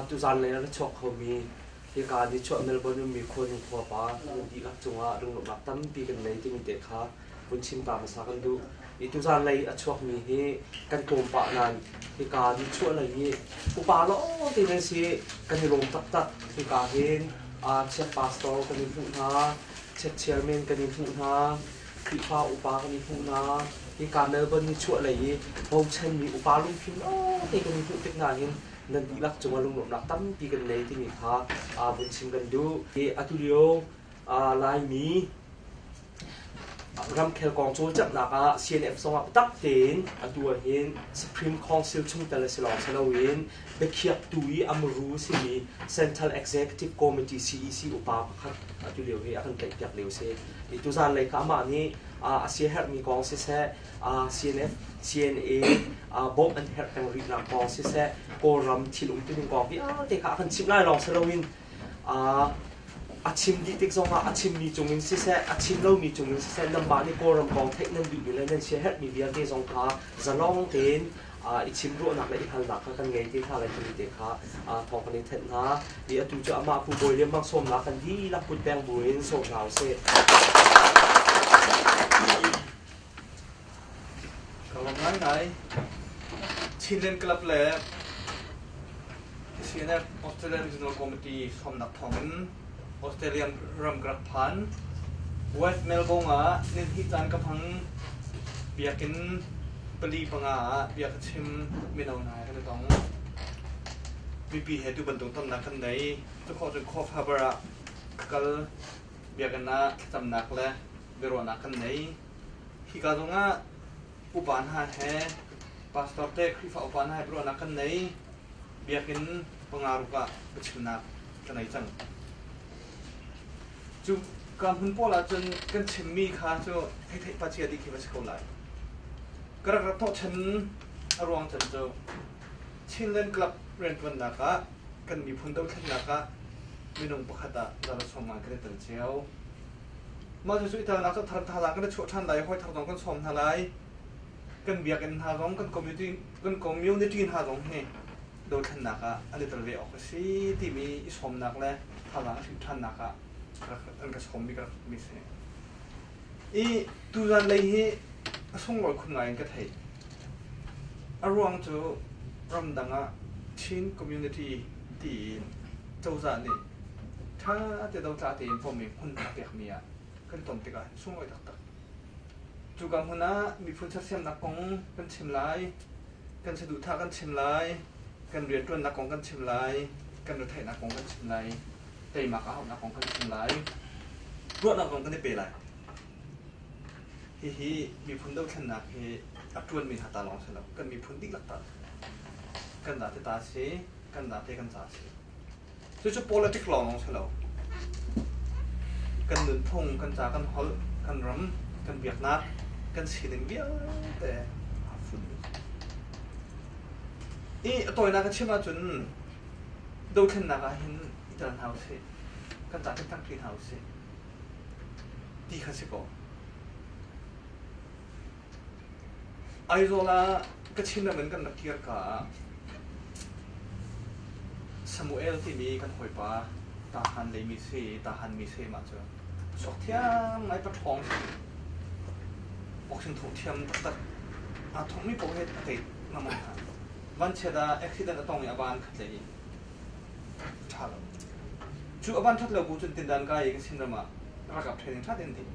Tuzanlei ah na chuak khomi hika nichuah Melbourne ummi khuanu khuapa an dihlak cungah lunglawmhnak tampi kan ngei timi te kha vun chim ta hmasa kan duh. I tuzanlei a chuakmi hi kan tlawmpah nain hika nichuah lei hi upa lawngte nan si kan i lawm taktak. Hika hin uh, chiat pastor kan i hmuh hna, chiat chairman kan i hmuh hna, Khrihfa upa kan i hmuh hna. Hika Melbourne nichuah lei i bochanmi upa lungfim lawngte kan i hmuh tik nain nan dihlak cungah lungnuamhnak tampi kan ngei timi kha aa vun chim kan duh. I atulio Laimi ramkhel kong cawlcanghnak ah CNF zongah biatak tein atu ahhin Supreme Council chungtel a si lawng si loin biakhiaktu i amru simi Central Executive Committee CEC upa pakhat atu lio hi a kan tlaihpiak lio si. I tuzan lei kha amah nih a siaherhmi kong siseh CNF, CNA bawmh an herh peng rihnak kong siseh, Kawlram thil um tining kong vialte kha a kan chimh lai lawng si loin a chim dih tik zongah a chimmi cungin siseh, a chim lomi cungin siseh, nanmah nih Kawlram kong theih nan duhmi le nan sia herhmi vialte zong kha zalong tein i chimruahnak le i halnak kha kan ngei ti hna lai timi te kha thawng kan in thenh hna. I atu cu amah Pu Bawi Lian Mang sawmnak kan dihlak kut peng buin sawm hna usih. Ka lawm ngaingai. Chinland Club le CNF Australia Regional Committee hrawmnak thawngin Australia ram ka rak phan. West Melbourne ah nihnih caan ka hmang. Biakinn pali panga ah bia ka chim. Mino hna he kan i tong. Mipi he tu bantuk tonnak kan nei. Tukhawh cun Khawhfa bar ah ka kal. Biakinn ah thlacamnak le biaruahnak kan nei. Hika zongah upa hna he pastor te Khrihfa upa hna he biaruahnak kan nei. Biakinn panga ruk ah biachimnak kan ei cang. Cu ka hmun pawl ahcun kan chimmi kha cu thei thei pachia dih khi va si ko lai. Ka rak rak thawhchan a ruang can cu Chinland Club rianṭuannak ah kan miphun dothlennak ah minung pakhat ah zala sawm ngai kan i tel cio. Mah cu ithangnak cu thar thazang kan i chuah ṭhan lai i hoi thar zong kan sawm hna lai. Kan biakinn hna zong kan community kan community hna zong hi dothlennak ah an i tel ve awk a si timi i sawmnak le thazang hrim ṭhannak ah an ka sawmmi ka rak mi si. I tuzan lei hi a sunglawi khun ngai in ka theih. A ruang cu ramdang ah Chin Community tiin cozah nih ṭha tein dotla tein pommi hmun a pekmi ah kan ton tikah hin sunglawi taktak. Cu ka hmun ah miphun sersiamnak kong kan chim lai, kan saduhthah kan chim lai, kan rianṭuannak kong kan chim lai, kan retheihnak kong kan chim lai, teimak a hauhnak kong kan chim lai. Ruahnak zong kan i pe lai. Hihi miphun dothlennak hi a ṭuanmi hna ta lawng si lo, kan miphun dihlak ta kan dah te ta a si, kan dah te kan ca a si. Cucu politic lawng lawng si lo. Kan nunphung, kan ca, kan holh, kan ram, kan biaknak, kan sining vialte aa fun. I a tawinak a chim ahcun dothlennak ah hin i tel hna usih, kan ca kan tangṭi hna usih. ti kha si kaw Aizawl ah Kachin ram in kan rak kir ka ah Samuel timi kan hawipa Tahan lei mi si Tahan mi se ma cu sok thiang ngai pa ṭhawng boxing thong thiam tak tak a thong mi poh he a kei ngam hna van che da accident a tong i a van khat lei Cu a ban ṭhat lo bu cun tindan ka i Chin ram ah ralkap training ṭha tein ding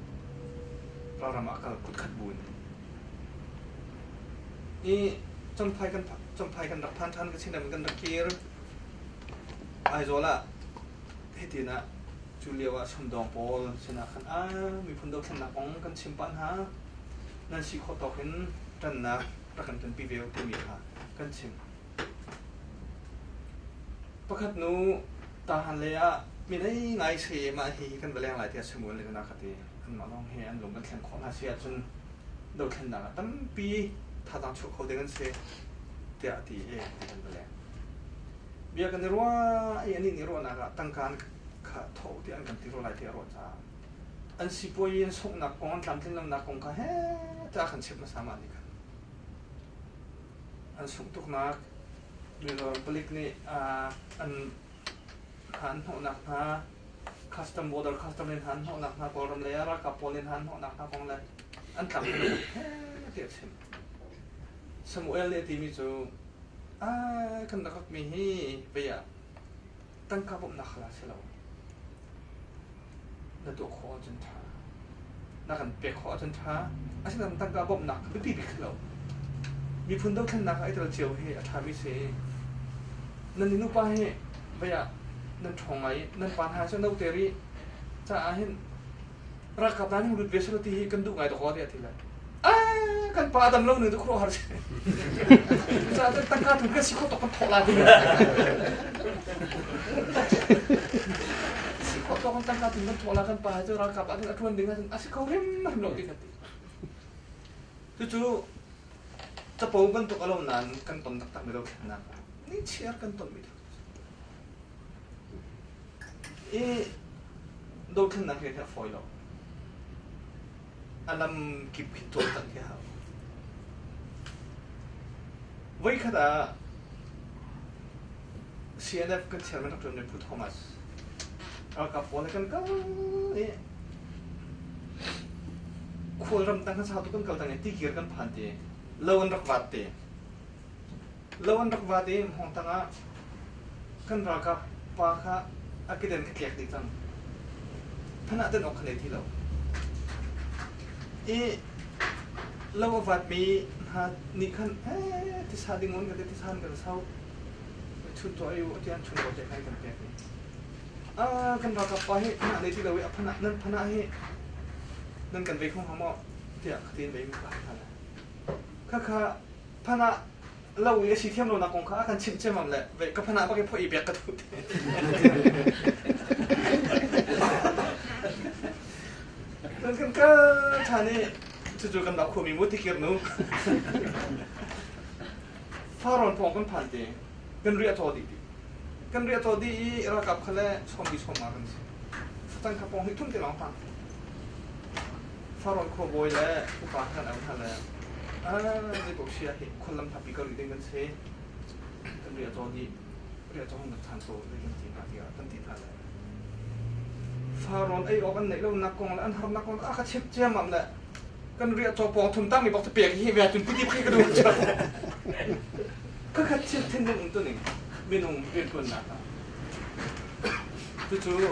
ralram ah kal kut khat bu in i champhai kan champhai kan rak phan ṭhan ka Chin ram in kan rak kir Aizawl ah hitin ah cu lio ah sumdawng pawl sinah khan ah miphun dothlennak kong kan chim pah hna nan si khawh tawk in ṭannak rak kan tonpi ve u timi kha kan chim Pakhat nu tarhan lei ah midei ngai sayem ah hi kan va leng lai tiah Samuel le kana ka ti. Anmah lawng he an lung kan thlen khawh hna si ahcun dothlennak ah tampi thazaang chuah kho ding an si tiah a ti i ti kan va leng. Bia kan i ruah i anih nih ruahnak ah tangka an kha thawh tiah an kan ti ruah lai tiah a ruah caah an sipuai i an sunghnak kong an tlamtlinlonak kong kha heh ta kan chimh hmasa mah nih khan. an sungh tuknak miror palik nih an hnawhnak hna custom border custom in an hnawhnak hna kawlram lei ah ralkap pawl nih an hnawhnak hna kong le an tlamtling tiah a chim Samuel nih a timi cu ai kan rak mi hi vei ah tangka bawmhnak hal ah si lo na tuah khawh ahcun ṭha na kan pek khawh ahcun ṭha asinain tangka bawmhnak biapi bik si lo miphun dothlennak ah i tel cio hi a ṭhami si nan i nupa hi vei ah nan ṭhawng ngai i nan pa hna cu no ter i caah hin Rakatan lut ve sal ti hi kan duh ngai tuk ti a ti lai. Ah kan pa adam lo nu tu khuruhar si. Cucaah te tangka tu kan si khawt kan thawh la ti. Si khawt kan tangka tu kan thawh la kan pa cu rakap an atuan ding an asi ko rim rim lo ti kan ti. Cucu capo bantuk alom nan kan ton taktak mi lo khennak. Ni chiar kan ton mi. i dothlennak hi a herh fawi lo. A lam kip khi tuaktan khi a hau. Voikhat ah CNF kan chairman rak ṭuanmi Pu Thomas ralkap pawl he kan kal i khual ram tang khan sau tuk kan kal tang i tigir kan phan ti lo an rak vat ti Lo an rak vate an hawng tang ah kan ralkap pa kha a kedan ka tlek dih cang. Phanh ah tan awk ka nei ti lo. I lo a vatmi hna nih khan eh tisa ding un ka ti tisan ka sau. Chun tuah i u tian chun ko te kai kan pek ni. Ah kan ralkap pa hi phanh ah nei ti lo i a phanh ah nan phanh ah hi nan kan vei không hang maw tiah ka tin vei mi ka ha kha kha phan ah lo i a si thiam lonak kong kha a kan chimh ciammam le ve ka phan ah bak i phoih i biak ka duh kan kan ka than i cucu kan dau khuami mu tikir nu faron thong kan phan te kan ria to di kan ria to di i rakap khale sombi somma kan si tang kapong hi thun te long phan Sauron khuabawi le upa hna le hna le zeipaoh si ah khuallam thapi ka rih ding kan si kan ria caw dih ria caw hung than ko ding kan ti hna tiah kan ti hna le Sauron ei awk an neih lo nak kong le an har nak kong a ka chim ciam am le kan ria caw pawng thum tang mi bak te pek hi ve tun puti phi ka dum chau ka ka chim thin ding um tu ning minung rian kun na ka tu cu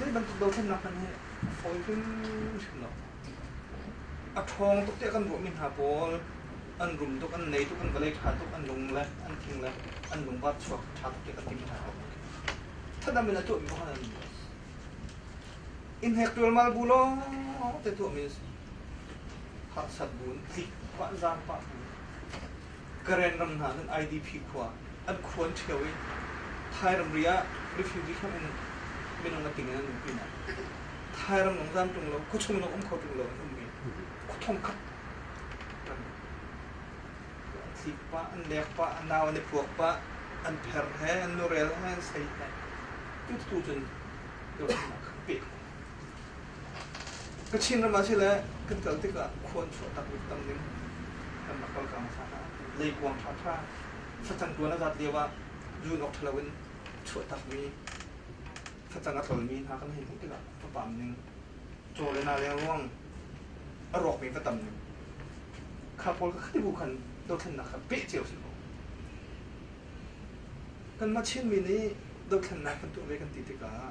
Zei bantuk dothlennak hmanh hi a fawi hrimhrim lo. A ṭhawng tuk tiah kan ruahmi hna pawl an rum tuk, an nei tuk, an va lei ṭha tuk, an lung le an thing le an lungvar chuak ṭha tuk tiah kan ti hna ko. Thadam in a tuahmi kong an ni. Inhek ṭualmal bu lawng te tuahmi a si. Harsat bu, tlik, vanzang pah bu. Karen ram hna nan IDP khua an khua an ṭheo i Thai ramri ah refugee hram in minung a ting in an um pin ah Thai ram lawng zan ṭung lo khuachung lawng um kho ṭung lo an ummi khuathong khat an thlik pah an lek pah an nau an i puak pah an pher he an norel he an sei he tutu cun Government ah khan peh Kachin ram ah sile kan kal tikah khuan chuah tak bik tam ning kan rak kal kang sa hna. Leikuang ṭha ṭha facang tuan a zat lio ah zun awk ṭhalo in chuah tak mi facang a tlol mi hna kan hei hmuh tikah va pam ning caw le na leng ruang a rawk mi va tam ning kha pawl ka khati bu khan dothlennak kha peh cio si ko kanmah Chinmi nih dothlennak kan tuah ve kan ti tikah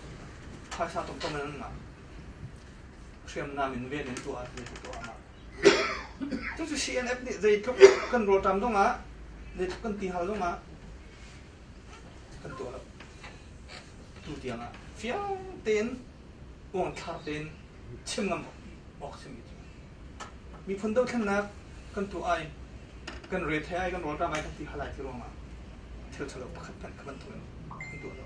phaisa tuk in an hriamnam in ven in tuah ti tu tuah ma tu cu CNF nih zeitluk kan rawtam dong ah zeitluk kan ti hal dong ah kan tuah lo tu tiang ah fiang tein uang thar tein chim ngam awk chim itu miphun do thlennak kan tu ai kan re the ai kan rawtam ai kan ti halai ti ruang ah thil chalo pakhat kan kan tu kan tu lo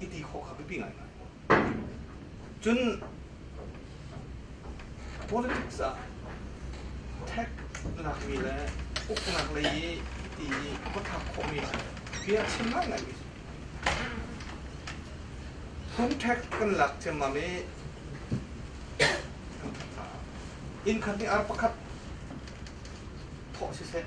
i ti khawh kha biapi ngai cun politics ah tech lakmi le uknak lei i ti i khuathak khawhmi bia chim ngaingai mi hun tech kan lak ciammam i inn khat nih ar pakhat thawh siseh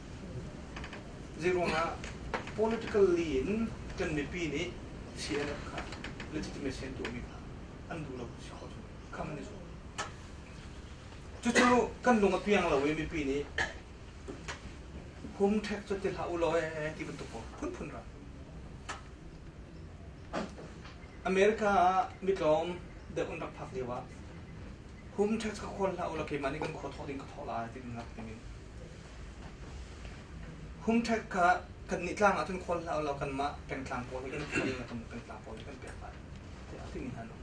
Zeiruangah politically in kan mipi nih CNF kha legitimacy an tuahmi hna an duh lo si khawh cu kha kan i zuam. Cucu kan lung a piang lo i mipi nih hum ṭhek cu ti hlah u law e ti bantuk kong phunphun ra. America ah mitlawm deuh an rak phak lio ah hum ṭhek kha khual hlah u la keimah nih kan khua thawh ding ka thawh lai ti kan ngak ning in Humṭhat kha kannih tlang ah cun khawl hlah u law kanmah pengtlang pawl in khawl law kan pengtlang pawl in kan pek lai tiah a timi hna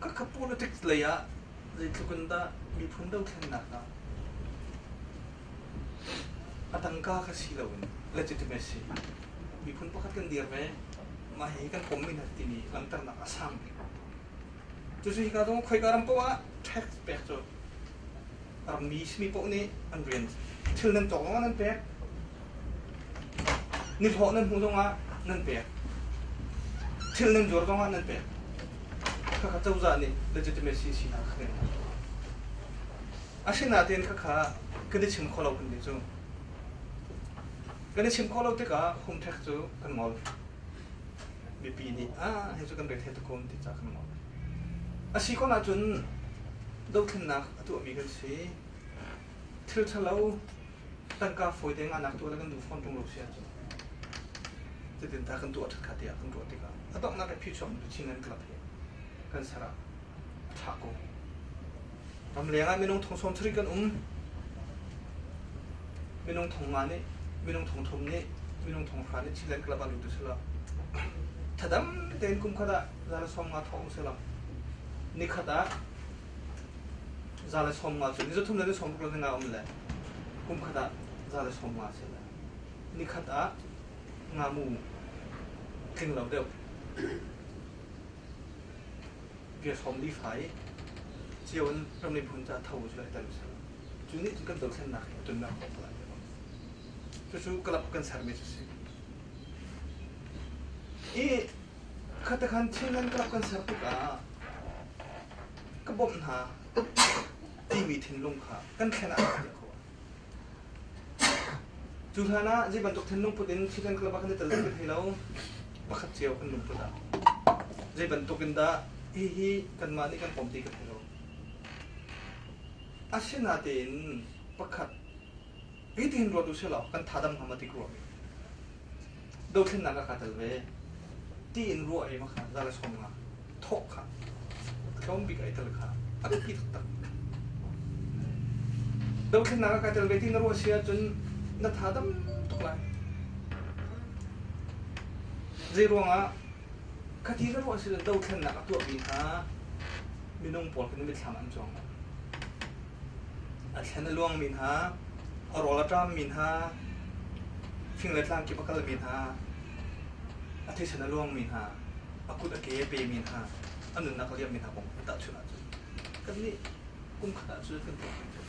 Ka ka politics lei ah zeitluk in dah miphun dothlennak ah a tangka ka si lo in legitimacy miphun pakhat kan dir ve mah hi kan pom min timi langhternak a sang bik cucu hi ka dong khoi ka ram poah tax pek cu Rammi simi poh nih an rian thil nan tawk zongah nan pek. Nihlawh nan hmuh zongah nan pek. Thil nan juar zongah nan pek. Khakha cozah nih legitimacy si hna kha kan ngah. Asinain khakha kan i chim kho lo kan ti cu. Kan i chim kho lo tikah home tax cu kan ngol. mipi nih ah hi cu kan rel he takum ti ca kan ngol a si ko cun dothlennak a tuahmi kan si thil thalo tangka fawi te nganak tuah kan duh fawn tung lo si ahcun cutin ta kan tuah ṭhat kha tiah kan ruah tikah a donghnak i phi chuak tu chin kan club hi kan sara a ṭha ko Ramleng ah minung thong sawm sarih kan um. Minung thong ma nih, minung thong thum nih, minung thong hra nih chilen club an um tu sila. Thadam tein kum khat ah zala som nga thong sila. Nikhat ah zala som nga cu ni zo thum le ni som ruk le nga um le kum khat ah zala som nga sila. Nikhat ah nga mu tling lo deuh. Platform lifai cio in ram le miphun caah tho cu a tel usih. Cu nih cun kan dothlennak hi a tunnak kong tuah a bang. Cucu club kan sermi cu si. Hi khatakhan Chinland club kan ser tikah ka bawmh hna timi thinlung kha kan thlen ah a fate kho. Cu hlan ah zei bantuk thil lungput in thisen club ah kan i tel kan thei lo. Pakhat cio kan lungput ah. Zei bantuk in dah hihi kanmah nih kan pom ti kan thei lo. Asinatein pakhat hi tin ruat u sih law kan tha dam ngam a ti ko mi. dothlennak a ka tel ve ti in ruah i makha zale somna thok kha tlawm bik ai tel kha a biapi taktak dothlennak a ka tel ve ti na ruah si ahcun na tha dam tuk lai zei ruangah khati na ruah si dothlennak a tuahmi kha minung pawl kan mitthlam an cuang A thlen a luangmi hna, a rawl a ṭammi hna, fing le tlang kip a kalmi hna, a thisen a luangmi hna, a kut a ke a pemi hna, a nunnak a liammi hna kong kan tahchunh ahcun kannih kumkhat ah cun kan tuah menmen.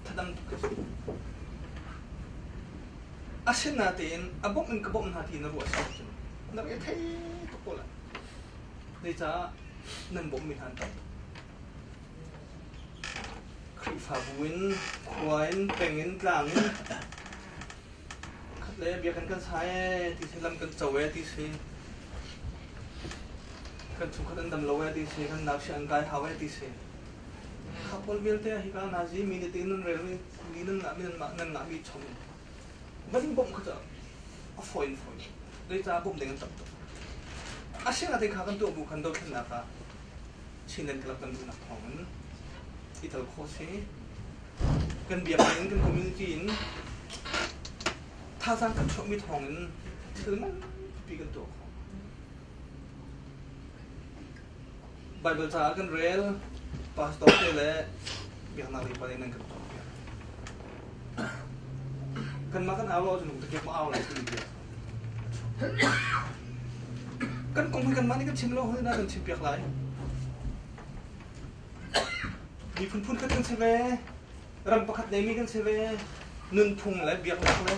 Thadang tuk hi a si. A sin na tein a bawmh in ka bawmh hna ti na ruah si ahcun na rel thei tuk ko lai. Zeicaah nan bawmhmi hna an tam tuk. Khrihfabu in khua in peng in tlang in khat le biakinn kan sa ee ti si lam kan co ee ti si kan chungkhat an dam lo ee ti si kan nakshi an kai hau ee ti si khapol vialte hi ka na zi mi ne tin nan rel mi nan ngah mi nan ngah nan ngah mi chom van bom kha a foin foin le cha bom ding an tam to a sing ate kha kan tu bu kan do khin na ka Chinland Club kan duhnak thawngin i tel khawh si. Kan biakinn in kan community in thazaang kan chuahmi thawngin thil manpi kan tuah khawh. Bible caah kan rel, pastor te le biaknak lipa nih nan kan tuahpiak. Kanmah kan au lo cun lungte ke ma au lai timi bia Kan kong hi kanmah nih kan chim lo hoi na kan chim piak lai. Miphun phunkhat kan si ve, ram pakhat neimi kan si ve, nunphung le biaknak le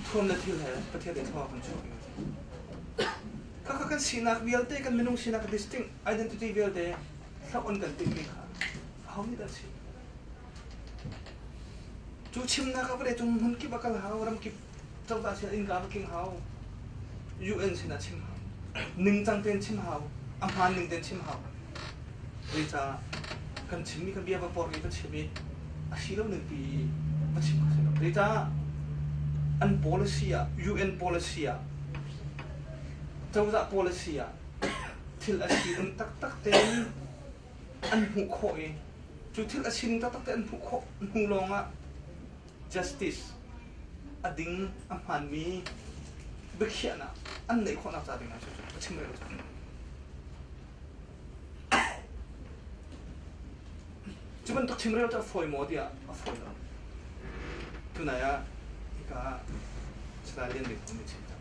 thuam le thil he Pathian nih thawng kan chuah Kaka kan sinak vialte kan minung sinak distinct identity vialte thlak on kan timhmi kha ho nih dah si? Cu chimnak ah vawleicung hmun kip a kal hau, ram kip cozah sin innka a va keng hau, UN sin ah chim hau, ningcang tein chim hau, a hmaan ning tein chim hau. Zeicah kan chimmi kan bia va pormi va chim i a si lo ningpi va chim kha si lo. Zeicah an policy ah UN policy ah cozah policy ah thil a si um taktak tein an hmuh khawh i cu thil a sin taktak te an hmuh khawh hnu lawngah justice a ding a hmaanmi biakhiahnak an neih khawhnak ca dingah cu a chim rel cang. Cu bantuk chim rel cu a fawi maw tiah a fawi lo. Tunai ah hika Stalin biakam i chim tak.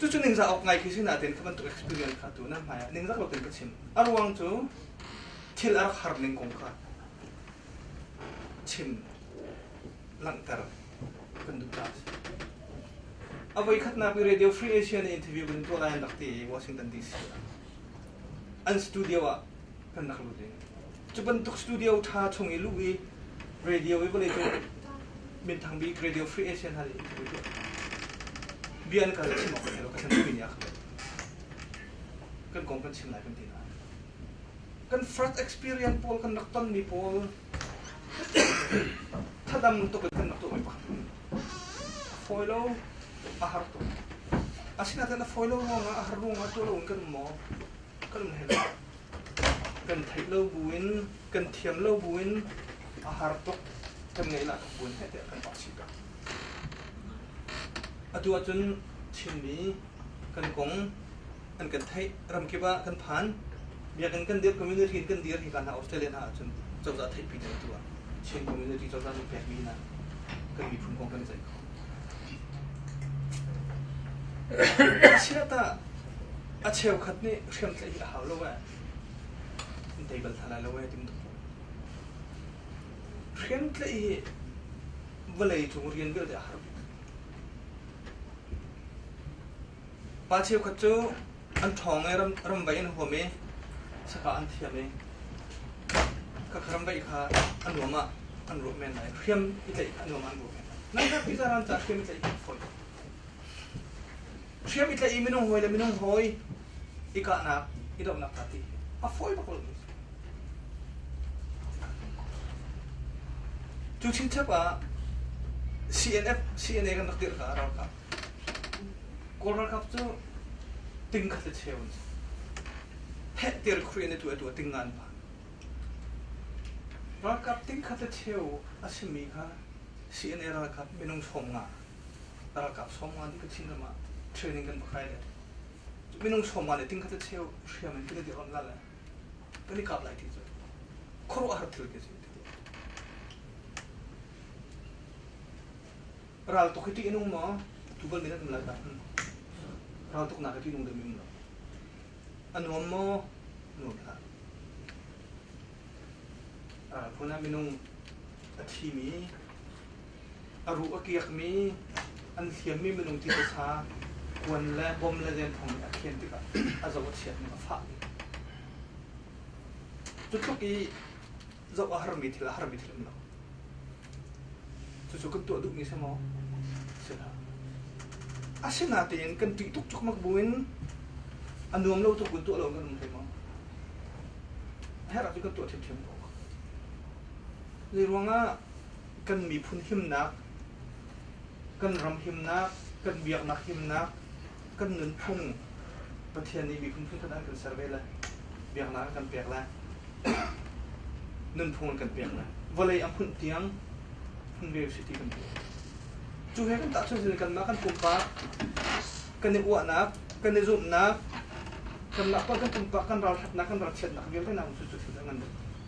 Cucu ningzak awk ngai khi si nain cu bantuk experience kha tu na hmai ah ningzak loin ka chim. A ruang cu thil a rak har ning kong kha chim langhter kan duh ta si. A voi khatnak i Radio Free Asia na interview kan tuah lai an rak ti i Washington DC ah. an studio ah kan rak lut i cu bantuk studio ṭha chung i luh i radio i vawlei cung minthang bik radio free asia hna nih bia an kal chim awk lo ka san mi nih a khat kan kong kan chim lai kan ti na kan first experience pawl kan rak ton mi pawl Thadam tuk in kan rak tuah mai pak. A fawi lo, a har tuk. Asinain a fawi lo ruangah, a har ruangah tuah lo in kan um maw? Kan um hei lo. Kan theih lo bu in, kan thiam lo bu in, a har tuk. Kan ngeihlah tuk buin heh tiah kan pak chih ka. Atu ahcun Chinmi kan kong an kan theih ram kip ah kan phan biakinn kan dirh community in kan dir hi kan hna Australia hna ahcun cozah theihpi ding tu ah Chin community cozah nih pekmi hna kan miphun kong kan i ceih kho chiatah a cheukhat nih hriam tlaih hi a hau lo e dei bal tha lai lo e tim tuk hriam tlaih hi vawlei cung rian vialte a har Pa cheukhat cu an ṭhawng i ramvaih an huam i saka an thiam i khakha ramvaih kha an nuam ah an ruah men lai. Hriam i tlaih kha an nuam ah an ruah men lai. Nangkhat piza ran caah hriam i tlaih kan fawi. Hriam i tlaih i minung hawi le minung hawi i kahnak i dohnak hna ti a fawi bak lo cu chingchep ah CNF CNA kan rak dirh ka ralkap kawl ralkap cu ting khat le cheu in pheh tir khri ne tu tu ting ngan pa ralkap ting khat le cheu a simi kha CNA ralkap minung chawm nga ralkap sawmngan nih ka thingram ah training kan va kai le minung sawmngan nih tingkhat a cheu hriam in kila di on la le kan i kap lai ti cu khuaruah har thil ke si ti ral tuk hi ti inung ma tugal min an lai ka ral tuk na ka ti inung de min lo anuam mo nuam la ral phuna minung a thi mi a ruh a kiakmi, an hliammi minung titasa, kuan le bom le denthong nih a khen tikah a zo a chiat ning a fah. Cutluk i zoh a harmi thil a harmi thil um lo. Cucu kan tuah duhmi si maw? Si lo. Asinatein kan ṭih tuk cukmak buin a nuam lo tuk kan tuah lo kan um thei maw? A herh ah cu kan tuah ṭhiamṭhiam ko. Zei ruangah kan miphun himnak, kan ram himnak, kan biaknak himnak, kan nunphung Pathian nih miphun phun an kan ser ve lai. Biaknak an kan pek lai. Nunphung an kan pek lai. Vawlei a hmunh tiang hmun ve si ti kan pek. Cu he kan tahchuan sin kanmah kan pumpak kan i uahnak, kan i zumhnak, kanmah pawl kan pumpak kan ral hatnak, kan ral chiatnak vialte naun cu cu thil an ngan ding.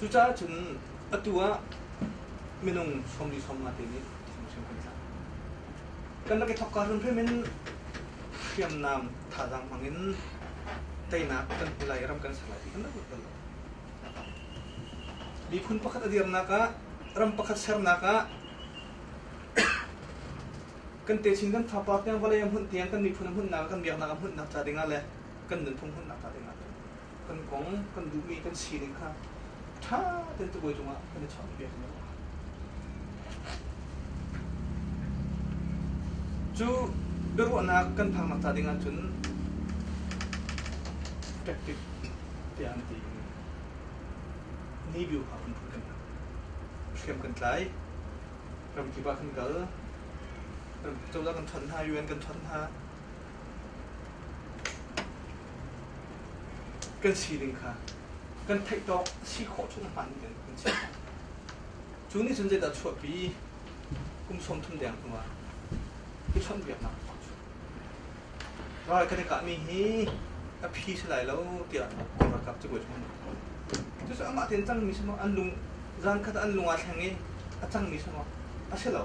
Cucaah cun atu ah minung sawmli sawmnga te nih hrimhrim kan tla. Kan rak i thokka hrimhrim in hriamnam thazaang hmangin teinak kan hmu lai, ram kan ser lai ti kan rak ruat bal lo. Miphun pakhat a dirnak ah, ram pakhat sernak ah kan techin kan thapa tiang vawlei a hmunh tiang kan miphun a hmuhnak kan biaknak a hmuhnak ca dingah le kan nunphung hmannak hnga tein kan kong, kan duhmi kan sining kha ṭha ten tukuai cungah kan i chawnh ve hna. Cu biaruahnak kan phaknak ca dingah cun tactic tiah an ti in Nibio kha kan phun kan hna. Hriam kan tlai, ramkip ah kan kal, cozah kan ṭhon hna, UN kan ṭhon hna, kan sining kha kan theih tawk si khawh cu hmaan in kan si cu nih cun zeidah chuahpi kum sawmthum deng hnu ah i chawnhbiaknak a cu ral kan i kahmi hi a phi si lai lo tiah kan ralkap cabuai chung an rak thawn cucu amah tein cangmi sungah an lung zan khat an lung aa thleng i a cangmi sungah a si lo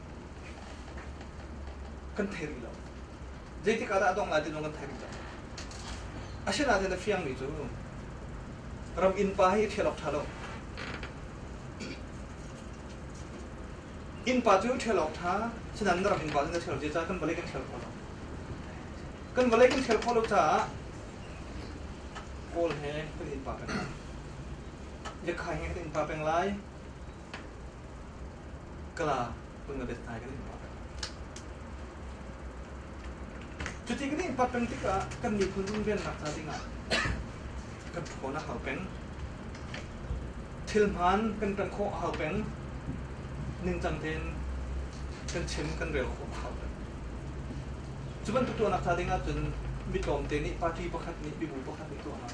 kan thei rih lo zeitik ah dah a dongh lai ti zong kan thei rih lo asinain na fiangmi cu ram innpa hi i ṭhial awk ṭha lo innpa cu ṭhial awk ṭha sinain na ram innpa cu na ṭhial lo zeicah kan vawlei kan ṭhial khawh lo kan vawlei kan ṭhial khawh lo caah kawl he kan innpa peng lai yakhai he kan innpa peng lai Kala pung na bet nai kan in pa peng. Cuti kan in pa peng tikah kan miphun runvennak ca dingah kan khawn a hau peng. Thil hmaan kan kan khawh a hau peng. Ningcang tein kan chim kan rel khawh a hau peng. Cu bantuk tuahnak ca dingah cun mi tlawmte nih party pakhat nih mibu pakhat nih tuahnak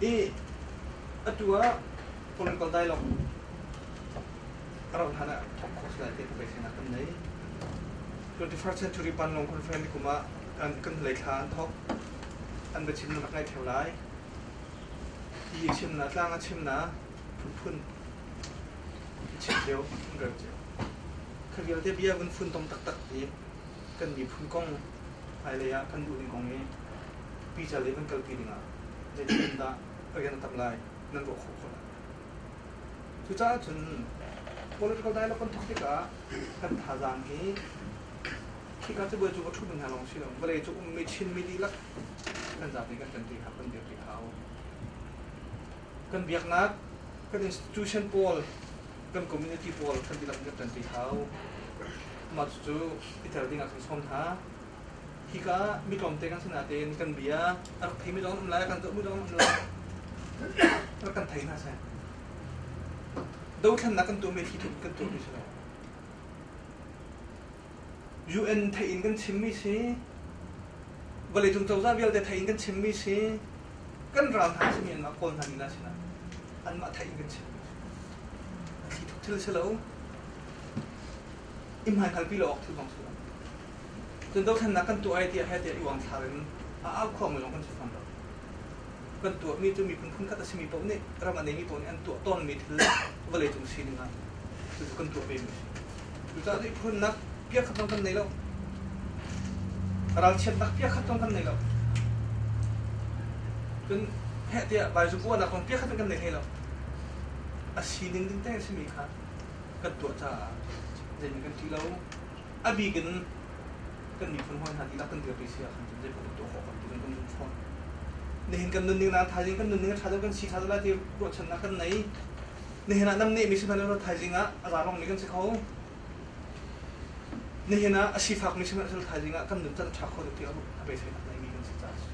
Hi atu ah political dialogue ka rauh hlan ah course lai te pei sinah kan nei. 21st century Panlong conference ni kum ah kan kan hlei thla an thok an va chim nak ngai theo lai hi a chim na tlang a chim na phunphun i chim deu kan reu ceu kha vialte bia vun fun tom tak tak hi kan miphun kong hmailei ah kan duh ding kong i pica lei kan kalpi dingah zeitin dah rian tam lai nan ruah khawh khawh lai cucaah cun political dialogue kan tuah tikah kan thazaang hi khika cu buai cu ka ṭhut hna lawng si lo vawlei cu ummi chinmi dihlak kan zapi kan ṭan ṭi hau kan dir ṭi hau kan biaknak kan institution pawl kan community pawl kan dihlak kan ṭan ṭi hau mah cucu iter ding ah kan sawm hna. Hika mi tlawmte kan si natein kan bia a rak theimi zong an um lai, kan zohmi zong an um lai. Rak kan thei hna sai. Dothlennak kan tuahmi khi tuah kan tuahmi si lo. UN thein kan chimmi si, vawleicung cozah vialte thein kan chimmi si, kan ral hna simi anmah kawl hna nila sina anmah thein kan chim khi thuk thil si lo i hmaikalpi lo awk thil bang thula. Cun dothlennak kan tuah ai tiah he tiah i uang thlar in a au khuangmi lawng kan si fawn lo. Kan tuahmi cu miphun phun khat a simi paoh nih ram a neimi paoh nih an tuah tawnmi thil vawlei cung sining ah cucu kan tuah vemi a si. Cucaah ihkhunnak piakhat zong kan nei lo. Ralchiatnak piakhat zong kan nei lo. Cun heh tiah vaizupuanak kong piakhat zong kan nei hlei lo. A sining ding te simi kha kan tuah caah zeiman kan ṭi lo. A bik in kan miphun hawi hna dihlak kan dirpi si ahkhan cun zeipaoh kan tuah khawh kan ti kan nun fawn. Nihin kan nunning na thaizing kan nunning a ṭha deuh kan si ṭha lai ti ruahchannak kan nei. Nihin ah nam nih misi hna rawt thaizing ah a ra bangmi kan si kho. Nihin ah a sifak misi hna rawt thaizing ah kan nun can a ṭha kho deuh ti a beiseinak neimi kan si caah si.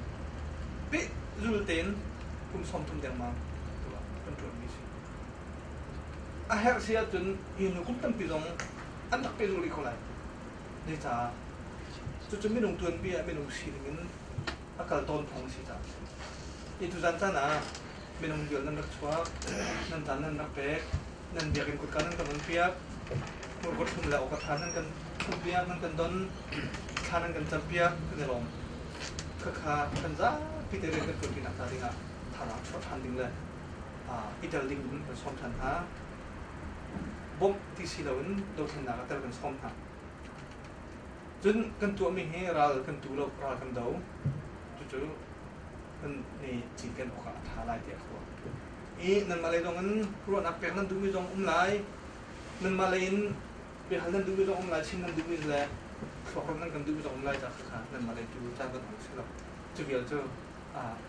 Peh zul tein kum sawm thum dengmang kan ṭuanmi si. A herh si ahcun minu kum tampi zong an rak pehzulh rih ko lai. Zeicah? Cucu minung tuanpi ah minung sining in a kal tawn phung a si caah. Hi tuzan caan ah minung liol nan rak chuak, nan dan nan rak pek, nan biakinn kutka nan kan on piak, murkut thlum le awkatha nan kan thlum piak, nan kan don, thla nan kan cam piak kan i lawm. Khakha kan zapi te rian kan tuanpi nak hnga dingah thazaang chuah than ding le i tel ding in kan sawm ṭhan hna. Bawmh ti si loin dothlennak ah tel kan sawm hna. Cun kan tuahmi hi ral kan tu lo, ral kan do. Cucu kan ni cinken awk ah a ṭha lai tiah ka ruah. I nanmah lei zong in ruahnak pek nan duhmi zong um lai. Nanmah lei in biahal nan duhmi zong um lai, chim nan duhmi le thluakram nan kan duhmi zong um lai, ca kha nanmah lei tu caan kan hmang si lo. Cu vial cu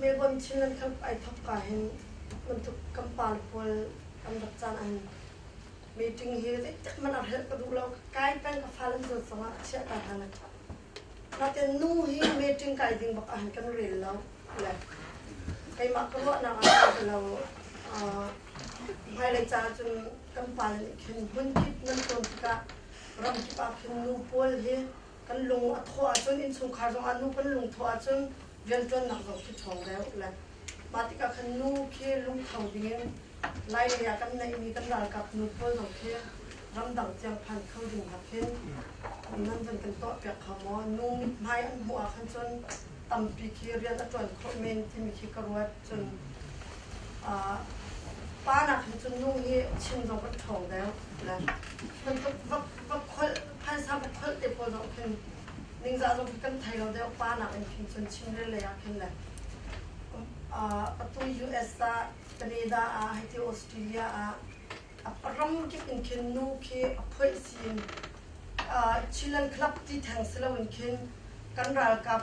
Melbourne Chinland Cup ai thok ka hin bantuk kan par pawl kan rak caan an meeting hi zeicah man ar helh ka duh lo kai peng ka fa lam zon sangah a chiah ka hana naten nu hi meeting kai ding bak ahan kan rel lo le keimah ka ruahnak ah kan lo hmailei ca cun kan pa nih khin hmun kip nan tuan tikah ram kip ah khin nu pawl hi Kan lung a thawh ahcun innchungkhar zongah nu kan lung thawh ahcun rianṭuannak zong khi ṭhawng deuh a let. Mah tikah khan nu khi lungtho dingin lailei ah kan neihmi kan ralkap nu pawl zong khi ramdang tiang phan kho ding nakin nan van kan tuahpiak hnga maw? Nu mithmai an hmuh ahkhan cun tampi khi rian a ṭuan khawh men timi khi ka ruat. Cun pa nakhin cun nu hi chim zong kan ṭhawng deuh a let. Bantuk va kholh phaisa va kholh te pawl zong khin ningzah zong kan thei lo deuh pa nak in khin cun chim le lei ah khin le atu US ah Canada ah haiti Australia ah a ram kip in khin nu khi a phoih sin Chilean club ti theng si lo in khin kan ralkap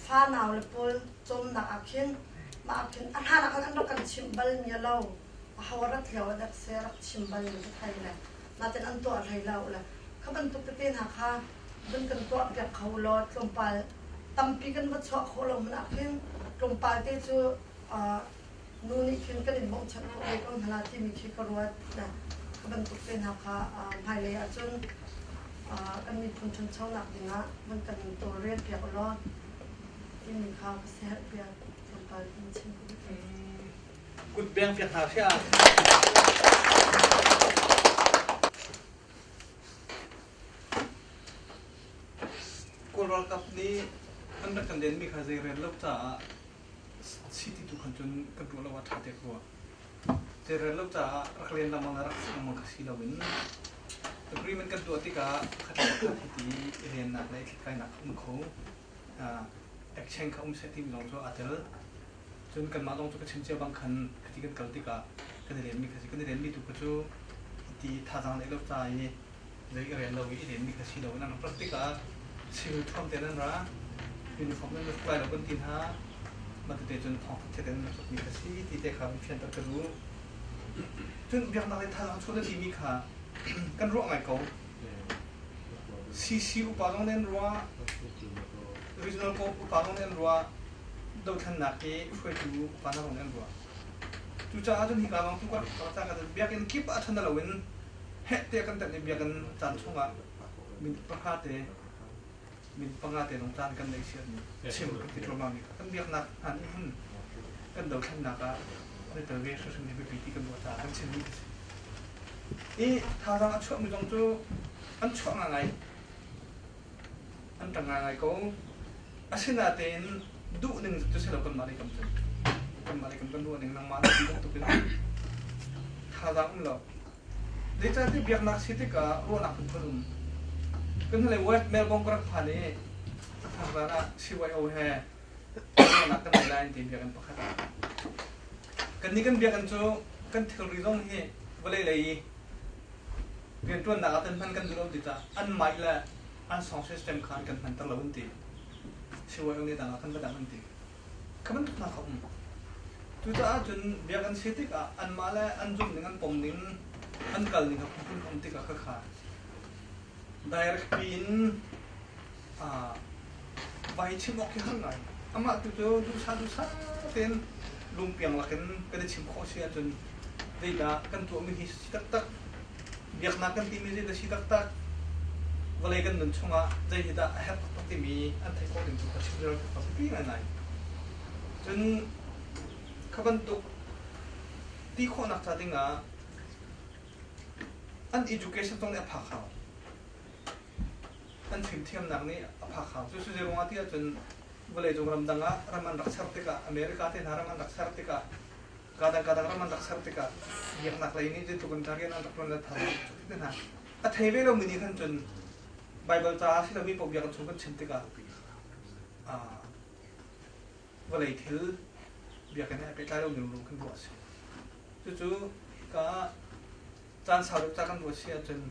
fa nau le pawl cawm nak ah khin ma khin a hna nak kan rak kan chim bal mi lo a hawarat lio dak se rak chim bal mi thai le naten an tuah hlei lo le kha bantuk tete hna kha kan kan tuah piak kho lo tlawmpal tampi kan va chuah khawh lo mun ah khin tlawmpal te cu nu nih khin kan in mong chak ve ko hna la timi khi ka ruat na ka bantuk te hna kha hmailei ahcun kan miphun ṭhanchonak dingah man kan in tawlrel piak law timi kha ka si herh piak tlawmpal in chim Kut peng piak hna hria. Kawl ralkap nih an rak kan denmi kha zei rel lo caah chiti tu khan cun kan tuah lo ah ṭha te kua. Zei rel lo caah rak len lengmang le rak si lengmang kha si loin agreement kan tuah tikah pakhat le pakhat hiti i lennak le i thlithlainak a um kho. ekcheng kha um seh tiin lawng cu aa tel. Cun kanmah lawng cu ka chim cia bang khan khati kan kal tikah kan i remmi kha si kan i remmi tu kha cu ti thazaang lei lo ca i zei i rem lo i i remmi kha si lo in an rak rat tikah civil thuam te nan ra uniform nan rak tuai lo kan ti hna matute cun thawng khat te in an rak sukmi kha si ti te kha fianter ka duh. Cun biaknak le thazaang chuah nan timi kha kan ruah ngai ko. CC upa lawng nan ruah, regional co upa lawng nan ruah, dothlannak hi hruaitu upa lawng nan ruah. Cucaah cun hika lawng tu kan karta kan biakinn kip ah ṭhan loin heh tiah kan tanh i biakinn caan chungah minute pahra te min panga te lawng caan kan nei sian chim kan ti thluahmah mi kan biaknak hna nih hin kan dothlennak ah nitel ve hrimhrim hi biapi ti kan ruah caah kan chim mi a si i thazaang a chuah mi kong cu an chuah ngai ngai an tang ngai ngai ko asinatein duh ning cu si lo kan mah lei kam cun kan mah lei kam kan ruah ning nangmah lei bantuk in thazaang um lo Zeicahtiah biaknak si tikah ruahnak phunphun um. Kan hnulei West Melbourne ka rak phan i a thar zan ah CYO he ruahnak kan ngei lai an ti biakinn pakhat. Kannih kan biakinn cu kan thilri zong hi vawlei lei i rianṭuannak ah kan hman kan duh lo ti tah anmah le an song system kha an kan hmanter lo an ti. CYO nih tangah kan va dang an ti. Ka bantuknak a um. Cucaah cun biakinn si tikah anmah le an zumh ning, an pom ning, an kal ning a phunphun um tikah ka kha direct piin aa vai chim awk khi har ngai. Amah tu cu duhsah duhsah tein lungpiang lakin kan i chim khawh si ahcun zeidah kan tuahmi hi taktak biaknak kan timi zeid a si taktak vawlei kan nun chungah zei hi dah a herh taktak timi an theih khawh ding cu ka chim zero taktak pi ngaingai cun kha bantuk ti khawhnak ca dingah an education zong nih a phak hau an fimthiamnak nih a phak hau cu su zeirung ah ti ahcun vawlei cung ramdang ah ram an rak ser tikah america te hna ram an rak ser tikah kadang-kadang ram an rak ser tikah biaknak lei nih zeitluk in dah rian an rak ṭuan let hna hna a thei ve lomi nih khan cun Baibal caah si lomi paoh biakinn chung kan chim tikah vawlei thil biakinn he pehtlai lomi ruru kan ruah a si cucu ka caan sau deuh ca kan ruah si ahcun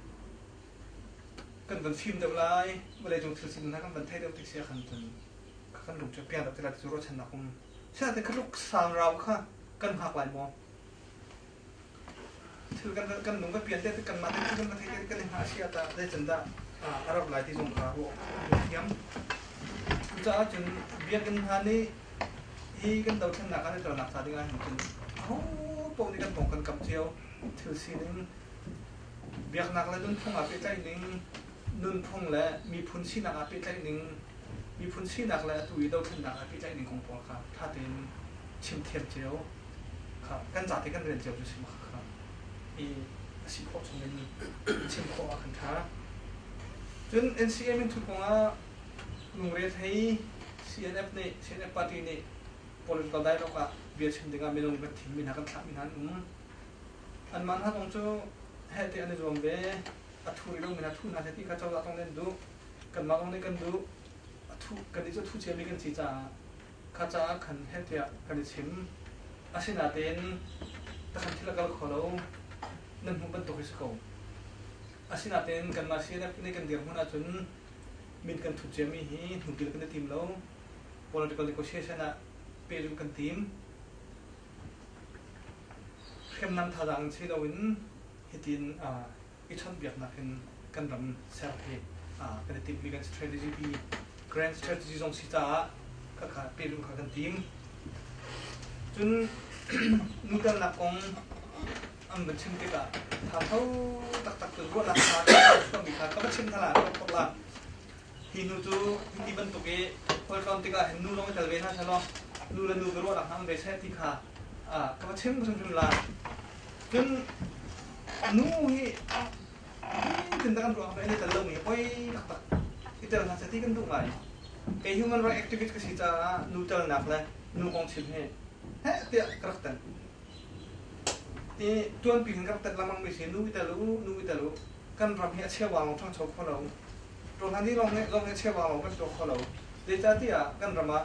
kan van fim deuh lai vawleicung thil sin hna kan van thei deuh tik si ahkhan cun kan lung cu pian deuh tilah ti cu ruahchannak um Siate khaluk sangrau kha kan hngak lai maw? Thil kan kan lung ka pian te kan mah te thil kan thei kan hna sia ta dai chan da a rau lai ti zong ka ru ru thiam. Cucaah cun biakinn hna nih hi kan do thlen nak kan tel nak sa ding ah hin cun ho po ni kan tong kan kap cio thil sining biaknak le nunphung ah pe tlai ning nunphung le miphun sinak ah pehtlaih ning, miphun sinak le atu i dothlennak ah pehtlaih ning kong pawl kha ṭha tein chim thiam cio kha kan zate kan rel cio cu si khawh kha i a si khawh chung in chim khawh ah kan ṭha. Cun NCM in thu kongah lungre thei CNF nih CNF party nih political dialogue ah bia chim dingah minung kan thimmi hna kan thlahmi hna an um. Anmah hna kong cu hehte an i zuam ve. a thu rih lomi a thu hna ti kha cozah thawng nih an duh kanmah thawng nih kan duh a thu kan nih cu thu ciami kan si caah kha caah khan heh tiah kan i chim asinain takhan thil a kal kho lo nan hmuh bantuk hi si ko asinain kanmah CNF nih kan dirhmun ahcun min kan thut ciami hi hnubil kan i tim lo political negotiation ah pehzulh kan tim hriamnam thazaang si loin Hitin i chawnhbiaknak in kan ram ser hi kan i timhmi kan si. Strategy grand strategy zong si caah kakha pehzulh kha kan tim. Cun nutelnak kong an van chim tikah thatho taktak cun ruahnak kha chuahmi kha ka va chim hna la ka va thok la hi nu cu ti bantuk i hol tlawm tikah hin nu lawng i tel ve hna selaw nu le nu ka ruahnak hang ve seh ti kha ka va chim hrimhrim lai. Cun nu hi nitin da kan ruak ve le tel lomi oi taktak i tel hna seti kan duh ngai. Kei human right activist ka si caah nu telnak le nu kong chim hi heh tiah ka rak tan. I tuanpi in kan rak tat lengmang mi si nu i tel u, nu i tel u. Kan ram hi a chia wang ṭhangcho kho lo. Rohani lawng nih lawng hi cheuva lawng kan tuah kho lo. Zeicahtiah kan ram ah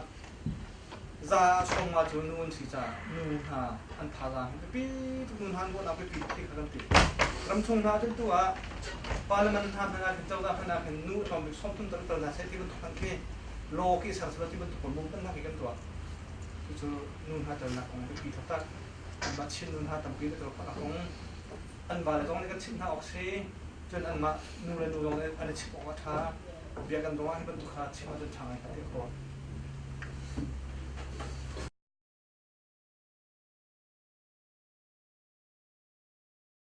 za a chawngma cu nu an si caah nu hna an thazaang hi biapi tuk nu hna an ruahnak biapi tuk ti kha kan ṭih. Ramchung hna ahcun tu ah parliament hna hmanh ahkhin cozah hmanh ahkhin nu a tlawmbik sawmtum tal tal hna seh ti bantuk hmanh khi law khi sersual ti bantuk kong bumhnak hi kan tuah. Cucu nu hna ṭalnak kong biapi taktak anmah Chin nu hna tampi nih tel khawhnak kong an vale zong nih kan chimh hna awk si Cun anmah nu le nu lawng an i chimh awk a ṭha. Biakinn ruangah hi bantuk kha chim ahcun ṭha ngai kan ti khawh.